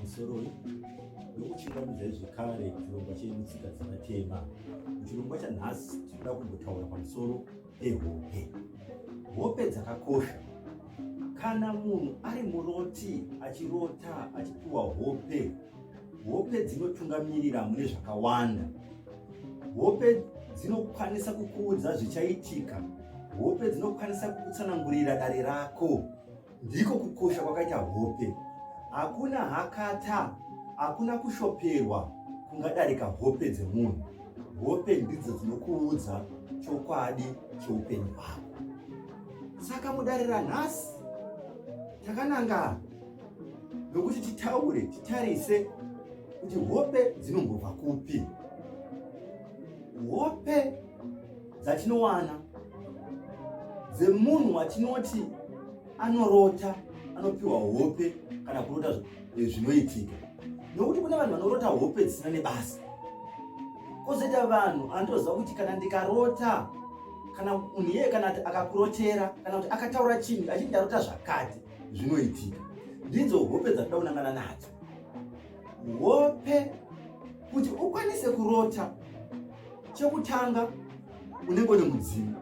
pamusoro nokuchingamidza zvekare chirongwa chenyu tsika dzevatema muchirongwa chanhasi tinoda kumbotaura pamusoro pehope hope dzakakosha kana munhu ari muroti achirota achipiwa hope hope dzinotungamirira mune zvakawanda hope dzinokwanisa kukuudza zvichaitika hope dzinokwanisa kukutsanangurira dare rako Ndiko kukosha kwakaita hope. Hakuna hakata, hakuna kushoperwa kungadarika hope dzemunhu. Hope ndidzo dzinokuudza chokwadi cheupenyu hwako. Saka mudare ranhasi takananga nokuti titaure, titarise kuti hope dzinombobva kupi. Hope dzatinowana dzemunhu watinoti anorota anopiwa hope kana kurota eh, zvinoitika nokuti kune vanhu vanorota hope dzisina nebasa kozoita vanhu anotoziva kuti kana ndikarota kana munhu iyeye kana kuti akakurotera kana kuti akataura chinhu achiti ndarota zvakati zvinoitika ndidzo hope dzatida kunangana nadzo hope kuti ukwanise kurota chekutanga unenge une mudzimu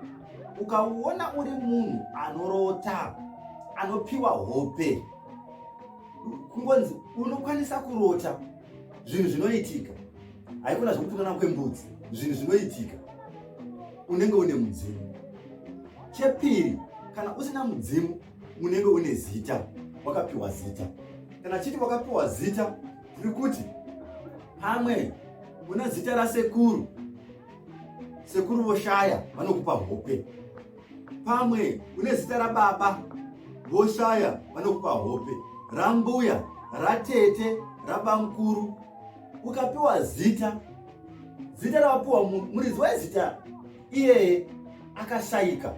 ukauona uri munhu anorota anopiwa hope kungonzi unokwanisa kurota zvinhu zvinoitika haikona zvekutukana kwembudzi zvinhu zvinoitika unenge une mudzimu chepiri kana usina mudzimu unenge une zita wakapiwa zita kana chiti wakapiwa zita tiri kuti pamwe una zita rasekuru sekuru voshaya vanokupa hope pamwe une zita rababa voshaya vanokupa hope rambuya ratete rabamukuru ukapiwa zita zita ravapiwa muridzi wezita iyeye akashaika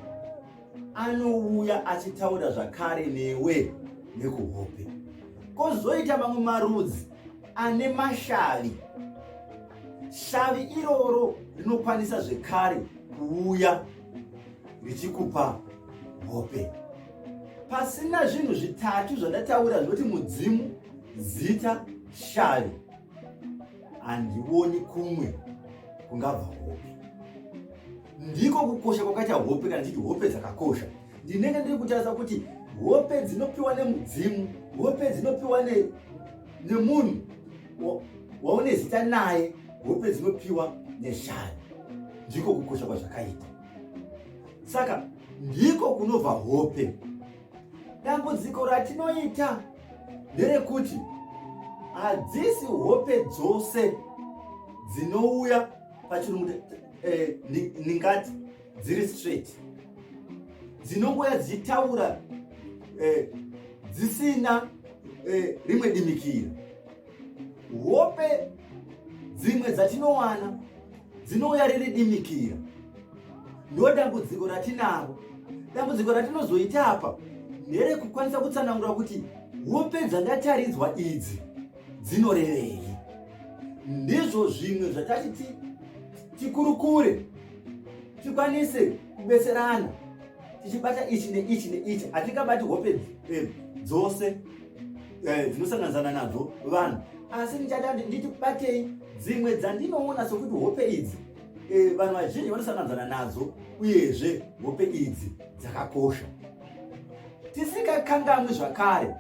anouya achitaura zvakare newe nekuhope kozoita mamwe marudzi ane mashavi shavi iroro rinokwanisa zvekare kuuya richikupa hope pasina zvinhu zvitatu zvandataura zvinoti mudzimu zita shavi handioni kumwe kungabva hope Ndiko kukosha kwakaita hope kana tichiti hope dzakakosha. Ndinenge ndiri kutarisa kuti hope dzinopiwa nemudzimu, hope dzinopiwa nemunhu waune zita naye, hope dzinopiwa neshari. Ndiko kukosha kwazvakaita. Saka ndiko kunobva hope. Dambudziko ratinoita nderekuti hadzisi hope dzose dzinouya pachirungu eh, ndingati dziri straight dzinongouya dzichitaura eh, dzisina eh, rimwe dimikira hope dzimwe dzatinowana dzinouya riri dimikira ndo dambudziko ratinaro dambudziko ratinozoita apa nderekukwanisa kutsanangura kuti hope dzandataridzwa idzi dzinorevei ndizvo zvimwe zvatati tikurukure tikwanise kubetserana tichibata ichi neichi neichi hatingabati hope eh, dzose eh, dzinosanganidzana nadzo vanhu asi ndichada nditi batei dzimwe dzandinoona sokuti hope idzi eh, vanhu vazhinji vanosanganidzana nadzo uyezve hope idzi dzakakosha tisingakanganwi zvakare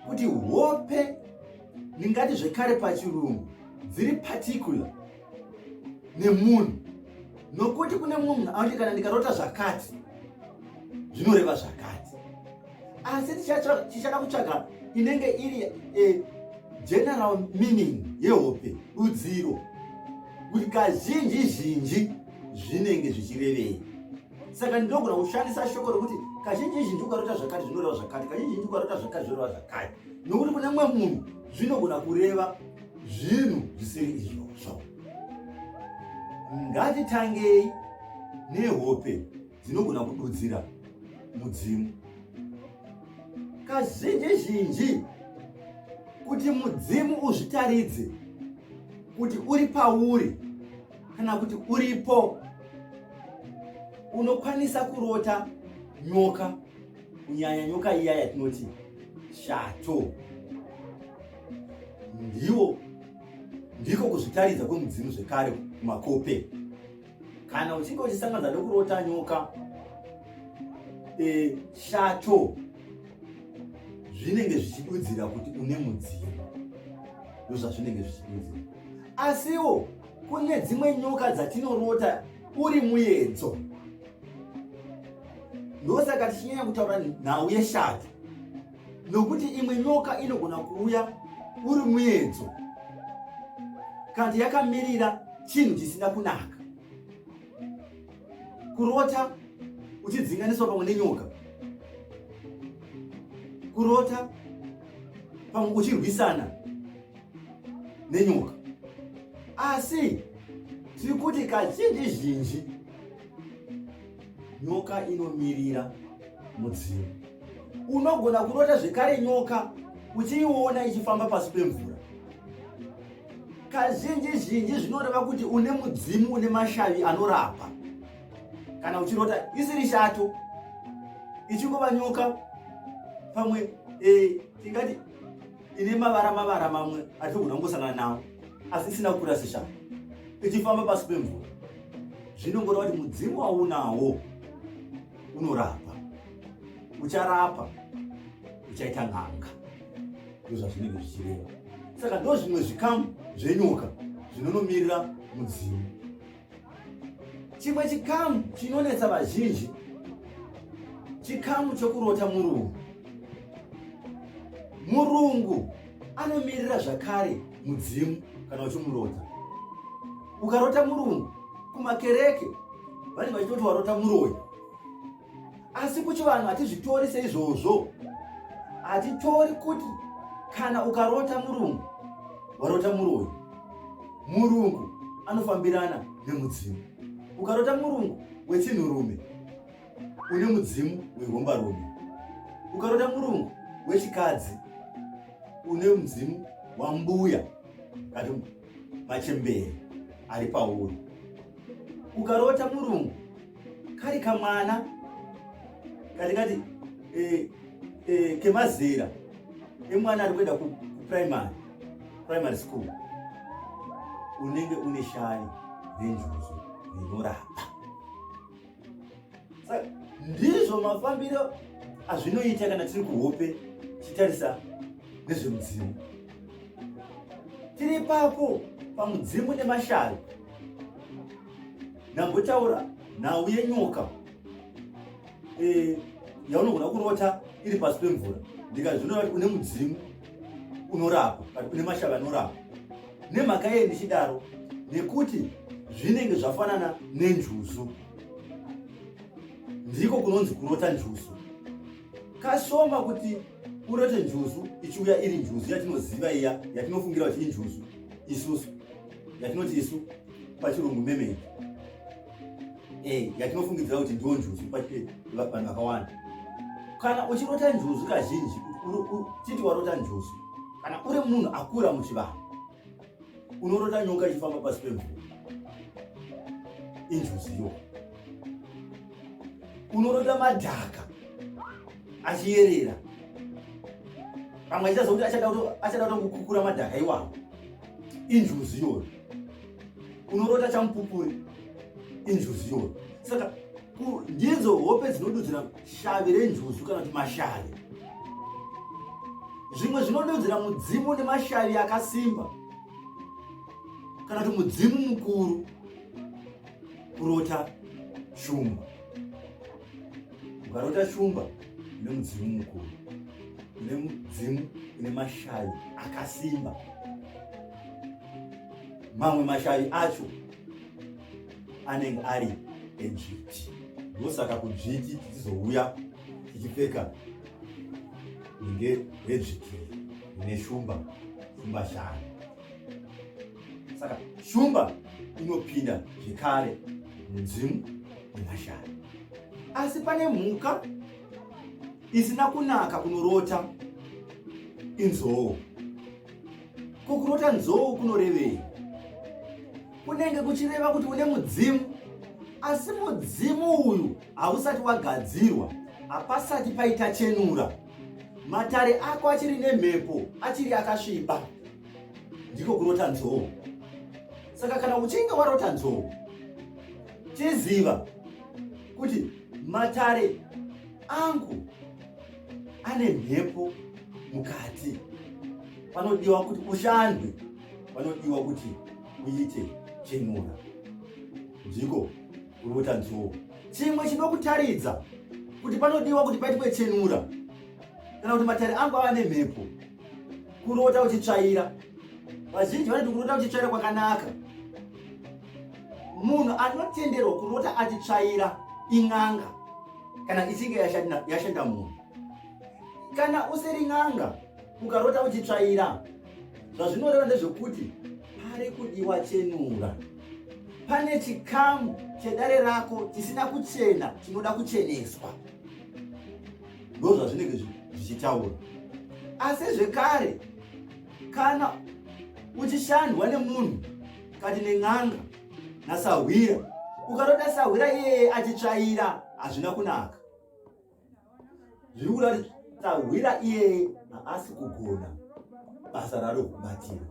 kuti hope ndingati zvekare pachirungu dziri particular nemunhu nokuti kune mumwe munhu anoti kana ndikarota zvakati zvinoreva zvakati asi tichada kutsvaga inenge iri e, general meaning yehope rudziro kuti kazhinji zhinji zvinenge zvichirevei saka ndinogona kushandisa shoko rokuti kazhinji zhinji ukarota zvakati zvinoreva zvakati kazhinji zhinji ukarota zvakati zvinoreva zvakati nokuti kune mumwe munhu zvinogona kureva zvinhu zvisiri izvozvo ngatitangei nehope dzinogona kududzira mudzimu kazhinji zhinji kuti mudzimu uzvitaridze kuti uri pauri kana kuti uripo unokwanisa kurota nyoka kunyanya nyoka iya yatinoti shato ndiwo ndiko kuzvitaridza kwemudzimu zvekare kumakope kana uchinge uchisanganza nekurota nyoka e, shato zvinenge zvichidudzira kuti une mudzimu ndozvazvinenge zvichidudzira asiwo kune dzimwe nyoka dzatinorota uri muyedzo ndosaka tichinyanya kutaura nhau yeshato nokuti imwe nyoka inogona kuuya uri muyedzo kati yakamirira chinhu chisina kunaka kurota uchidzinganiswa pamwe nenyoka kurota pamwe uchirwisana nenyoka asi tiri kuti kazhinji zhinji nyoka inomirira mudzimu unogona kurota zvekare nyoka uchiiona ichifamba pasi pemvura kazhinji zhinji zvinoreva kuti une mudzimu une mashavi anorapa kana uchirota isiri shato ichingova nyoka pamwe e, tingati ine mavara mavara mamwe atinogona kungosangana nawo asi isina kukura seshanga ichifamba pasi pemvura zvinongoreva kuti mudzimu waunawo unorapa ucharapa uchaita n'anga ndo zvazvinenge zvichireva saka ndo zvimwe zvikamu zvenyoka zvinonomirira mudzimu chimwe chikamu chinonetsa vazhinji chikamu chokurota murungu murungu anomirira zvakare mudzimu kana uchimurota ukarota murungu kumakereke vanenge vachitoti warota muroyi asi kuchivanhu hatizvitori seizvozvo hatitori kuti kana ukarota murungu warota muroyi murungu anofambirana nemudzimu ukarota murungu wechinhurume une mudzimu wehombarume ukarota murungu wechikadzi une mudzimu wambuya kati machembere ari pauri ukarota murungu kari kamwana kari kati eh, eh, kemazera emwana ari kuenda kuprimary primary school unenge une shani renjuzu rinorapa saka ndizvo mafambiro azvinoita kana tiri kuhope tichitarisa nezvemudzimu tiri papo pamudzimu nemashavi ndambotaura nhau yenyoka eh, yaunogona kurota iri pasi pemvura ndikazvinoa une mudzimu unorapa kana une mashava anorapa nemhaka yei ndichidaro nekuti zvinenge zvafanana nenjuzu ndiko kunonzi kurota njuzu kasoma kuti urote njuzu ichiuya iri njuzu yatinoziva iya yatinofungira kuti injuzu isusu yatinoti isu pachirungu meme eh, yatinofungidzira kuti ndiwo njuzu vanhu vakawanda kana uchirota njuzu kazhinji chiti warota njuzu kana uri munhu akura muchivanhu unorota nyoka ichifamba pasi pemvura injuzu iyo unorota madhaka achiyerera pamwe achitazokuti achada kutokukura madhaka iwawo injuzu iyoyo unorota chamupupuri injuzu iyoyo saka ndidzo hope dzinodudzira shavi renjuzu kana kuti mashavi zvimwe zvinodudzira mudzimu nemashavi akasimba kana kuti mudzimu mukuru kurota shumba ukarota shumba ine mudzimu mukuru ine mudzimu ine mashavi akasimba mamwe mashavi acho anenge ari edzviti ndosaka kudzviti tichizouya tichipfeka inge redzviti rine shumba shumba shanu saka shumba inopinda zvekare mudzimu nemashari asi pane mhuka isina kunaka kunorota inzoo Ko kurota nzou kunorevei? Kunenge kuchireva kuti une mudzimu, asi mudzimu uyu hausati wagadzirwa, hapasati paita chenura. Matare ako achiri nemhepo, achiri akasviba. Ndiko kurota nzou. Saka kana uchinge warota nzou, chiziva kuti matare angu ane mhepo mukati panodiwa kuti ushandwe panodiwa kuti uite chenura ndiko kurota nzou chimwe chinokutaridza kuti panodiwa kuti paitwe chenura kana kuti matare angu ava nemhepo kurota uchitsvaira vazhinji vanoti kurota uchitsvaira kwakanaka munhu anotenderwa kurota achitsvaira in'anga kana ichinge yashanda munhu kana usiri n'anga ukarota uchitsvaira zvazvinoreva ndezvekuti pari kudiwa chenura pane chikamu chedare rako chisina kuchena chinoda kucheneswa ndozvazvinenge zvichitaura asi zvekare kana uchishandwa nemunhu kati nen'anga nasahwira ukatoda sahwira iyeye achitsvaira hazvina kunaka zviri kuda kuti sahwira iyeye haasi kugona basa raro kubatira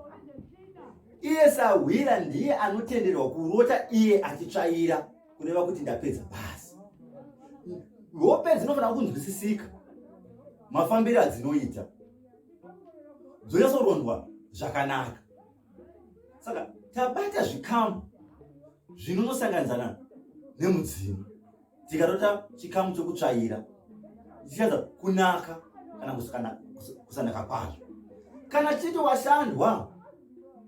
iye sahwira ndiye anotenderwa kurota iye achitsvaira kureva kuti ndapedza basi hope dzinofanira kunzwisisika mafambiri adzinoita dzonyatsorondwa zvakanaka saka tabata zvikamu zvinonosanganidzana nemudzimu tikatota chikamu chokutsvaira tichiratidza kunaka kana kusanaka kwazvo kana tichiti washandwa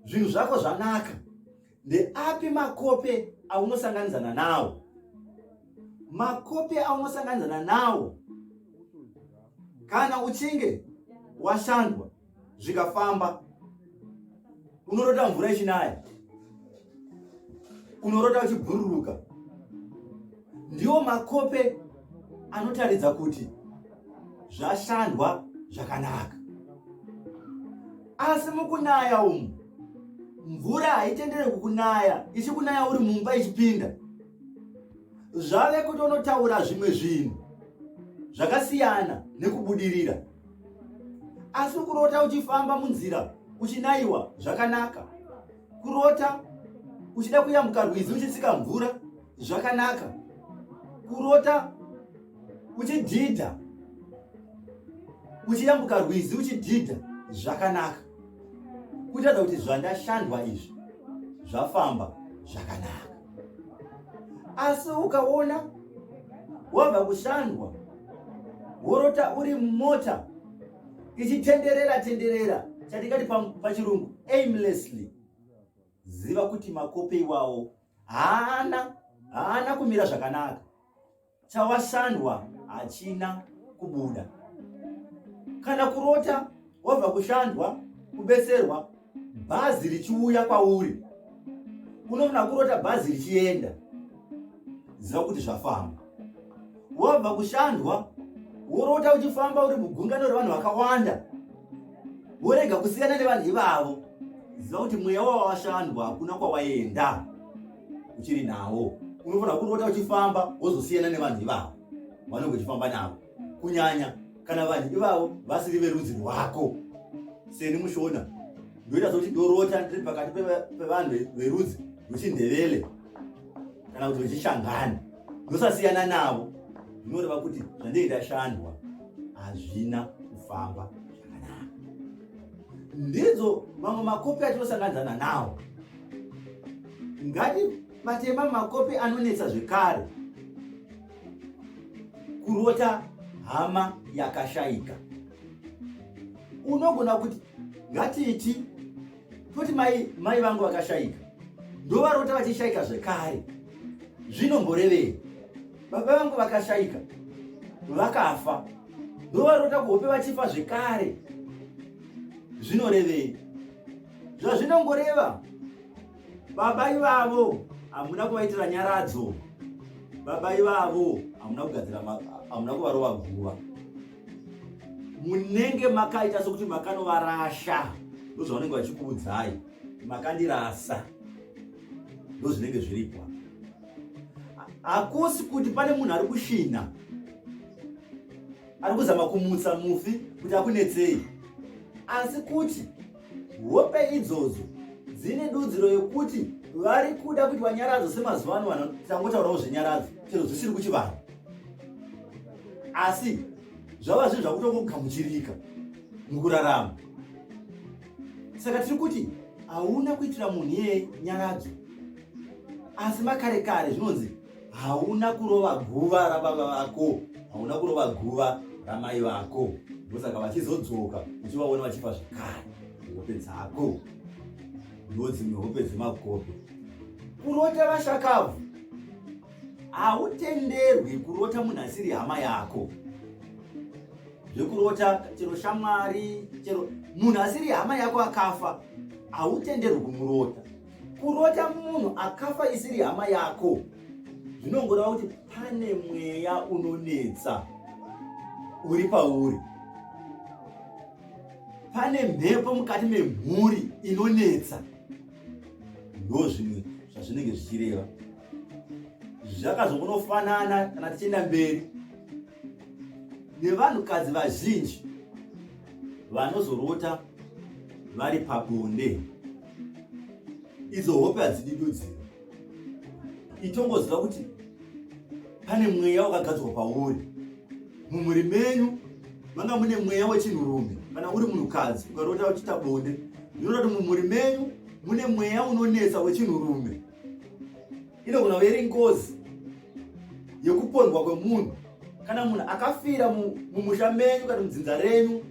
zvinhu zvako zvanaka ndeapi makope aunosanganidzana nawo makope aunosanganidzana nawo kana uchinge washandwa zvikafamba unorota mvura ichinaya unorota uchibhururuka ndiwo makope anotaridza kuti zvashandwa zvakanaka asi mukunaya umu mvura haitendere kukunaya ichikunaya uri mumba ichipinda zvave kuti unotaura zvimwe zvinhu zvakasiyana nekubudirira asi kurota uchifamba munzira uchinayiwa zvakanaka kurota uchida kuyambuka rwizi uchitsika mvura zvakanaka kurota uchidhidha uchiyambuka rwizi uchidhidha zvakanaka kutaridza kuti zvandashandwa izvi zvafamba zvakanaka asi ukaona wabva kushandwa worota uri mumota ichitenderera tenderera chatingati pachirungu aimlessly ziva kuti makope iwawo haana haana kumira zvakanaka chawashandwa hachina kubuda kana kurota wabva kushandwa kubetserwa bhazi richiuya kwauri unofana kurota bhazi richienda ziva kuti zvafamba wabva kushandwa worota uchifamba uri mugungano revanhu vakawanda worega kusiyana nevanhu ivavo ziva kuti mweya wawashandwa hakuna kwawaenda uchiri nawo unofanira kurota uchifamba wozosiyana nevanhu ivavo vanenge uchifamba navo kunyanya kana vanhu ivavo vasiri verudzi rwako seni mushona ndoita sokuti ndorota ndiri pakati pevanhu verudzi rwechindevele kana kuti vechishangani ndosasiyana navo zvinoreva kuti zvandei ndashandwa hazvina kufamba zvakanaka ndidzo mamwe makopi atinosanganizana nawo ngati matema makope anonetsa zvekare kurota hama yakashaika unogona kuti ngatiiti toti mai mai vangu vakashaika ndovarota vachishaika zvekare zvinomborevei baba vangu vakashaika vakafa ndovarota kuhope vachifa zvekare zvinorevei zvazvinongoreva baba ivavo hamuna kuvaitira nyaradzo baba ivavo hamuna kugadzira hamuna kuvarova guva munenge makaita sokuti makanovarasha ndozvavanenge vachikuudzai makandirasa ndozvinenge zviripwa hakusi kuti pane munhu ari kushina ari kuzama kumutsa mufi kuti akunetsei asi kuti Hope idzodzo dzine dudziro yekuti vari kuda kuti vanyaradzo semazuva ano vanhu tangotaurawo zvenyaradzo chero zvisiri kuchivanhu asi zvava zvinhu zvakutongogamuchirika mukurarama saka tiri kuti hauna kuitira munhu iyeye nyaradzo asi makare kare zvinonzi hauna kurova guva rababa vako hauna kurova guva ramai vako ndosaka vachizodzoka uchivaona vachifa zvekare hope dzako ndodzimwe hope dzemakope kurota vashakabvu hautenderwi kurota munhu asiri hama yako zvekurota chero shamwari chero munhu asiri hama yako akafa hautenderwi kumurota Kurota munhu akafa isiri hama yako zvinongoreva kuti pane mweya unonetsa uri pauri, pane mhepo mukati memhuri inonetsa. Ndo zvimwe zvazvinenge zvichireva zvakazongonofanana kana tichienda mberi nevanhukadzi vazhinji vanozorota vari pabonde. idzo hope hadzidi dudziro itongoziva kuti pane mweya wakagadzwa pauri mumhuri menyu manga mune mweya wechinhurume kana uri munhukadzi ukarota uchiita bonde ndinoda kuti mumhuri menyu mune mweya unonetsa wechinhurume inogona kuva iri ngozi yekupondwa kwemunhu kana munhu akafira mumusha menyu kana mudzinza renyu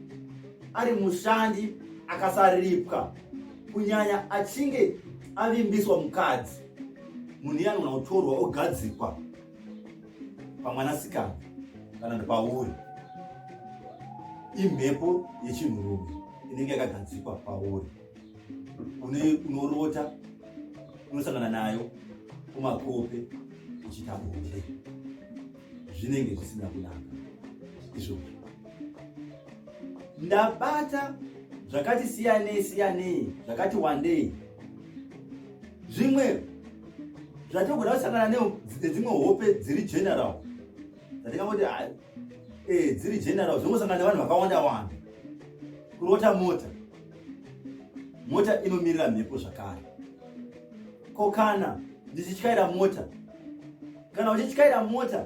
ari mushandi akasaripwa kunyanya achinge avimbiswa mukadzi munhu iye anogona kutorwa ogadzikwa pamwanasikana kana kuti pauri imhepo yechinhurume inenge yakagadzikwa pauri unorota unosangana nayo kumakope uchiita bonde zvinenge zvisina kunaka izvozvo ndabata zvakati siyanei siyanei zvakati wandei zvimwe zvatogona kusangana nedzimwe hope dziri general dzatingangoti eh, dziri general zvongosangana nevanhu vakawanda wanda kurota mota mota inomirira mhepo zvakare ko kana ndichityaira mota kana uchityaira mota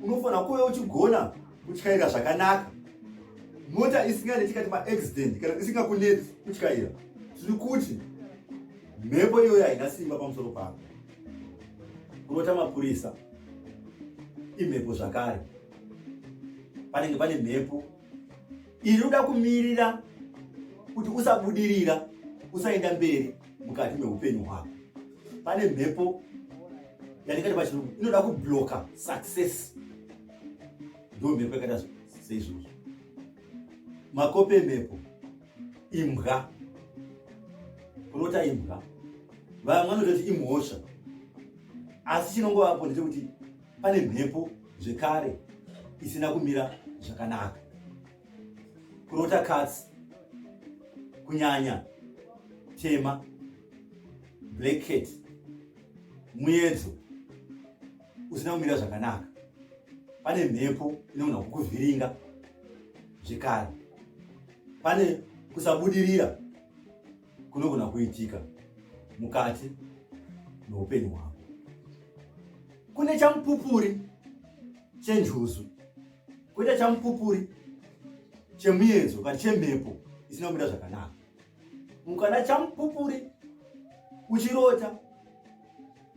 unofanira kuve uchigona kutyaira zvakanaka mota isinganeti kati maaccident kana isingakuneti kutyaira zviri kuti mhepo iyoyo haina simba pamusoro pako kurota mapurisa imhepo zvakare panenge pane mhepo inoda kumirira kuti usabudirira usaenda mberi mukati meupenyu hwako pane mhepo yandikati pachirungu inoda kubloka success ndo mhepo yakaita seizvozvo makope mhepo imbwa kurota imbwa vamwe vanototi imhosva asi chinongovapo ndechekuti pane mhepo zvekare isina kumira zvakanaka kurota katsi kunyanya tema black cat muyedzo usina kumira zvakanaka pane mhepo inogona kukuvhiringa zvekare pane kusabudirira kunogona kuitika mukati meupenyu hwako kune chamupupuri chenjuzu koita chamupupuri chemuyedzo kana chemhepo isina kumira zvakanaka mukana chamupupuri uchirota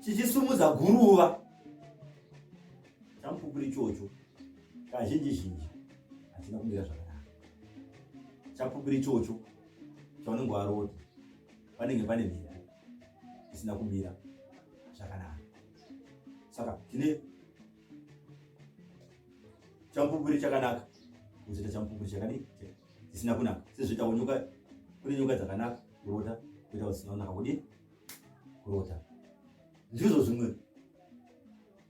chichisumudza guruva chamupupuri ichocho kazhinji zhinji hatina kumira zvakanaka chamupupuri ichocho paunenge warota panenge pane mhera isina kumira zvakanaka saka tine champupuri chakanaka kuzoita champupuri chakadii dzisina kunaka sezvoitawo nyoka kune nyoka dzakanaka kurota kuita zvisina kunaka kudii kurota ndizvo zvimwe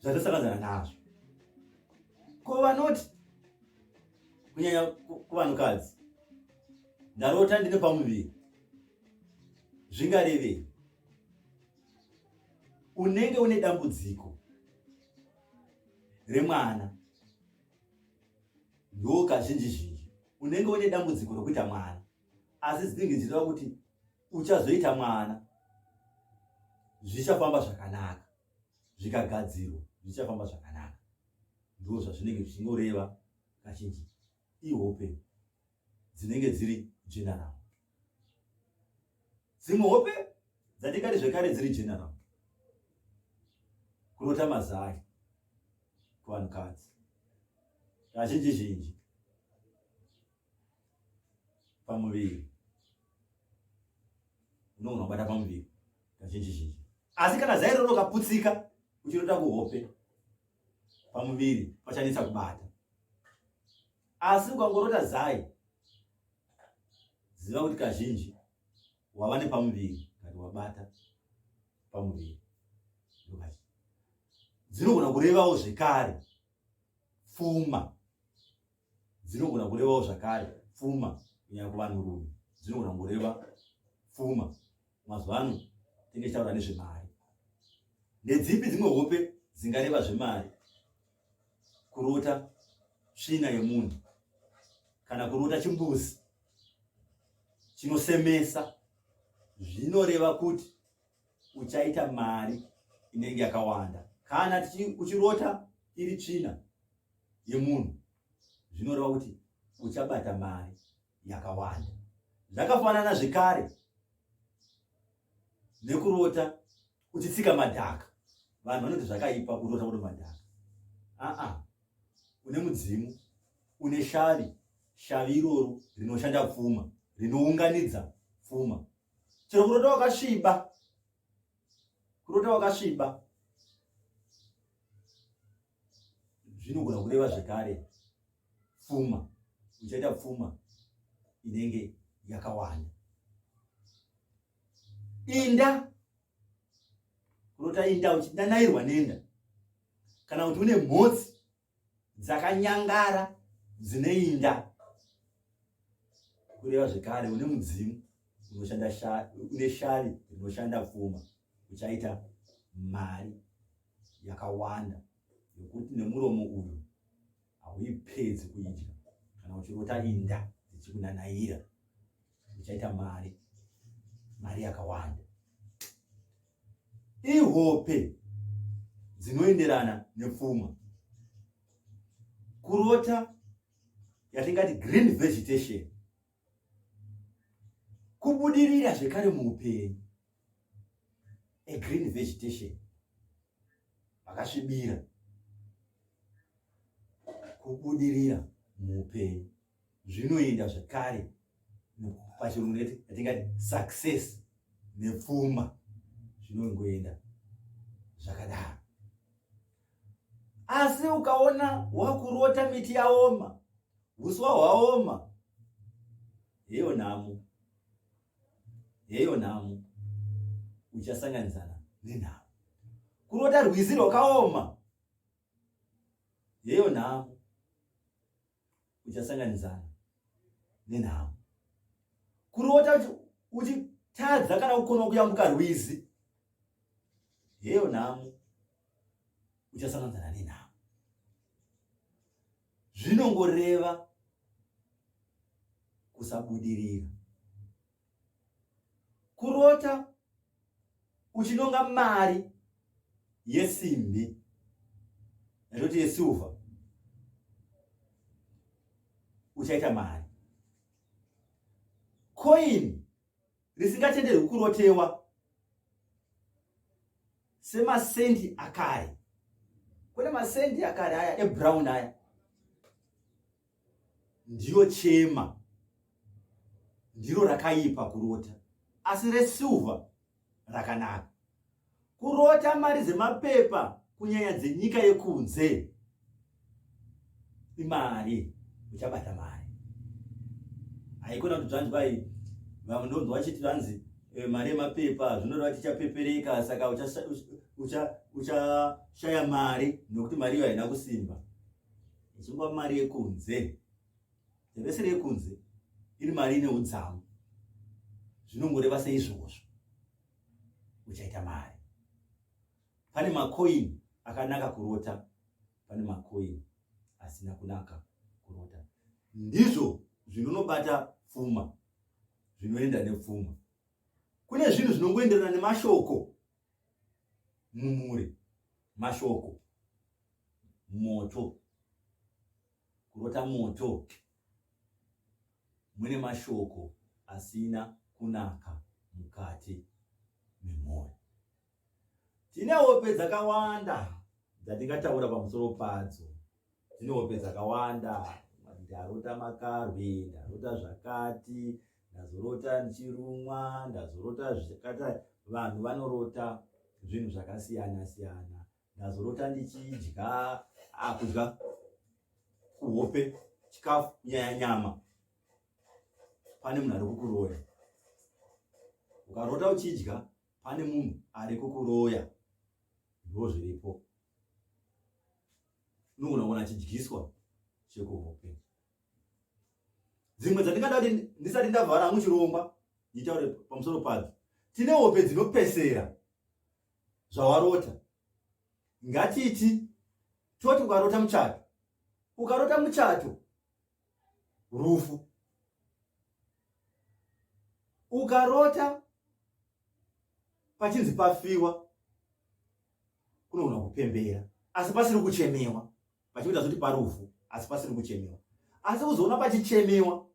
zvatasakanzana nazvo ko vanoti kunyanya kuvanhukadzi ndarota ndine pamuviri zvingarevei unenge une dambudziko remwana ndo kazhinji zhinji unenge une dambudziko rekuita mwana asi zinenge ndichireva kuti uchazoita mwana zvichafamba zvakanaka zvikagadzirwa zvichafamba zvakanaka ndizvo zvazvinenge zvichingoreva kazhinji ihope dzinenge dziri general dzimwe hope dzatikati zvekare dziri general kurota mazai kuvanhukadzi kazhinji zhinji pamuviri unogona kubata pamuviri kazhinji zhinji asi kana zairo rokaputsika uchinoita kuhope pamuviri pachanetsa kubata asi ukangorota zai ziva kuti kazhinji wava nepamuviri kati wabata pamuviri dzinogona kurevawo zvekare pfuma dzinogona kurevawo zvakare pfuma kunyanya kuvanhurume dzinogona kureva pfuma mazuva ano tinge tichitaura nezvemari nedzipi dzimwe hope dzingareva zvemari kurota tsvina yemunhu kana kurota chimbuzi chinosemesa zvinoreva kuti uchaita mari inenge yakawanda kana uchirota iri tsvina yemunhu zvinoreva kuti uchabata mari yakawanda zvakafanana zvekare nekurota uchitsika madhaka vanhu vanoti zvakaipa kurota kuto madhaka aa une mudzimu une shavi shavi iroro rinoshanda pfuma rinounganidza pfuma chero kurota wakasviba kurota wakasviba zvinogona kureva zvekare pfuma uchaita pfuma inenge yakawanda inda kurota inda uchidanairwa nenda kana kuti une mhotsi dzakanyangara dzine inda kureva zvekare une mudzimu une shavi rinoshanda pfuma uchaita mari yakawanda yokuti nemuromo uyu hauipedzi kuidya kana uchirota inda dzichikunanaira uchaita mari mari yakawanda ihope dzinoenderana nepfuma kurota yatingati green vegetation kubudirira zvekare muupenyu a green vegetation vakasvibira kubudirira muupenyu zvinoenda zvekare pachirungu neti atingati success nepfuma zvinongoenda zvakadaro asi ukaona wakurota miti yaoma huswa hwaoma heyo nhamo heyo nhamo uchasanganisana nenhamo kurota rwizi rwakaoma heyo nhamo uchasanganidzana nenhamo kurota uchitadza kana kukona kuyambuka rwizi heyo nhamo uchasanganidzana nenhamo zvinongoreva kusabudirira kurota uchinonga mari yesimbi yatoti yesilver uchaita mari coin risingatenderwi kurotewa semasendi akare kune masendi akare aya ebrown aya ndiyo chema ndiro rakaipa kurota asi resilver rakanaka kurota mari dzemapepa kunyanya dzenyika yekunze imari uchabata mari haikona kuti zvanzi kwai vamwe ndonzi vachiti vanzi eh, mari yemapepa zvinoreva tichapepereka saka uchashaya mari nokuti mari iyo haina kusimba Zungwa mari yekunze. The vessel yekunze iri mari ine udzamu. Zvinongoreva seizvozvo. Uchaita mari. Pane macoin akanaka kurota, pane macoin asina kunaka kurota. Ndizvo zvinonobata pfuma, zvinoenda nepfuma. Kune zvinhu zvinongoenderana nemashoko mumure mashoko moto kurota moto mune mashoko asina kunaka mukati memwoyo tine hope dzakawanda dzatingataura pamusoro padzo dzine hope dzakawanda ndarota makarwi ndarota zvakati ndazorota ndichirumwa ndazorota zvakata vanhu vanorota zvinhu zvakasiyana siyana ndazorota ndichidya akudya ah, kuhope chikafu nyaya nyama pane munhu ari kukuroya ukarota uchidya pane munhu ari kukuroya ndo zviripo unogona kuona achidyiswa chekuhope dzimwe dzandingada kuti ndisati ndavhara hangu chirongwa nditaure pamusoro padzo tine hope dzinopesera zvawarota ngatiti toti ukarota muchato ukarota muchato rufu ukarota pachinzi pafiwa kunogona kupembera asi pasiri kuchemewa pachikuita zoti parufu asi pasiri kuchemewa asi kuzoona pachichemewa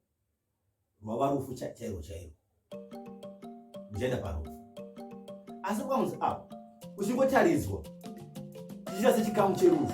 rwava rufu chairo chairo ndichaenda parufu asi kwamuzi apa kuchingotaridzwa chichiita sechikamu cherufu